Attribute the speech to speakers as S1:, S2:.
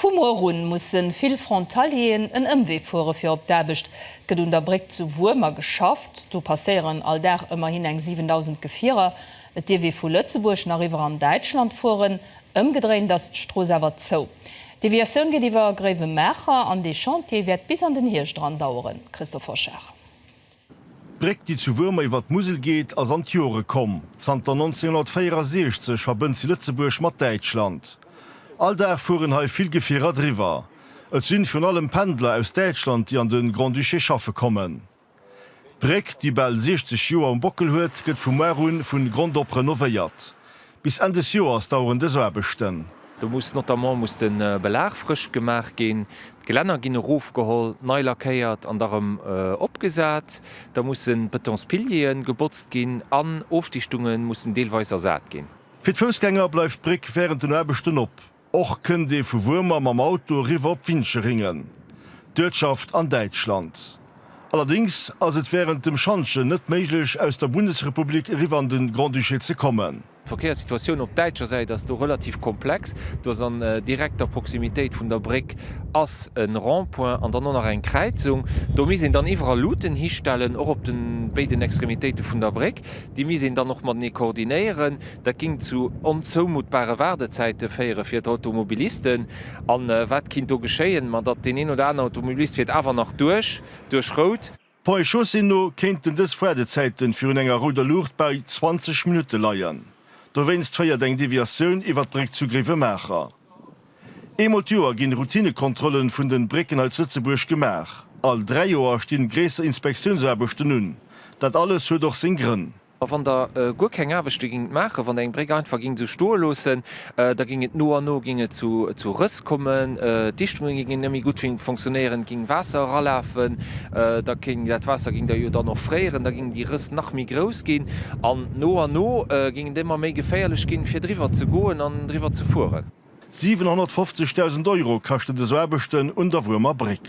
S1: Vu muer un musse vill Frontalieren en Ëmwee fuere fir op d'Aarbecht. Et gëtt un der Bréck zu Wuermer geschafft. Do passéieren all Dag ëmmerhin eng 7.000 Gefierer. Et dierf ee vu Lëtzebuerg nach iwwer an Däitschland fueren. Ëmgedréint ass d'Strooss awer zou. D'Deviatioun geet iwwer Gréiwemaacher an dee Chantier wäert bis an den Hierscht eran daueren. Christophe Hoschard. D'Bréck,
S2: déi zu Wuermer iwwer d'Musel geet, ass an d'Jore komm. Zanter 1964 verbënnt si Lëtzebuerg mat Däitschland. All Dag fueren hei vill Gefierer driwwer. Et sinn virun allem Pendler aus Däitschland, déi an de Grand-Duché schaffe kommen. D'Bréck, déi bal 60 Joer um Bockel huet, gëtt vu muar un vun Grond op renovéiert. Bis Enn des Joers daueren dës Aarbechten. Do muss notamment
S3: muss de Belag frësch gemaach ginn, d'Gelänner ginn erofgeholl, nei lackéiert an da rëm opgesat. Da musse Betonspiliere gebotzt ginn an Ofdichtunge mussen deelweis ersat ginn. Fir d'Foussgänger
S2: bleift d'Bréck wärend den Aarbechten op. Och kënnt ee vu Wuermer mam Auto eriwwer op Wincheringen, d'Uertschaft an Däitschland. Allerdéngs ass et wärend dem Schantjen net méiglech aus der Bundesrepublik eriwwer an de Grand-Duché ze kommen. D'Verkéierssituatioun op
S3: däitscher Säit ass do relativ komplex. Do ass an direkter Proximitéit vun der Bréck ass e Rond-point an dann och nach eng Kräizung. Do misst een dann iwwerall Luuten histellen, och op de béiden Extremitéite vun der Bréck. Déi misst een dann och matenee koordinéieren. Dat géing zu onzoumutbare Waardezäite féiere fir d'Automobilisten. A wat kinnt do geschéien? Ma datt deen een oder anere Automobilist fiert awer nach duerch, duerch Rout. Poi Chaussée
S2: no kéinten dës Waardezäite virun enger rouder Luucht bei 20 Minutte leien. Dowéinst féiert eng Deviatioun iwwer d'Bréck zu Gréiwemaacher. Eemol d'Joer ginn Routinekontrollen vun den Brécken hei zu Lëtzebuerg gemaach. All 3 Joer stinn gréisser Inspektiounsarbechten un. Dat alles huet och seng Grënn. A wann der
S3: guer keng Aarbechte gingt maachen, wann der eng Bréck einfach gingt esou stoe loossen, da ging et no an no ging et zu Rëss kommen, d'Dichtungen gingen net méi gutt fonctionnéieren, et ging Waasser eralafen, da ging dat Waasser ging da jo dann och fréieren, da gingen déi nach méi grouss ginn an no an no géingen déi ëmmer méi geféierlech ginn, fir driwwer ze goen an driwwer ze fueren.
S2: 750.000 Euro kascht
S3: et
S2: esou Aarbechten un der Wuermer Bréck.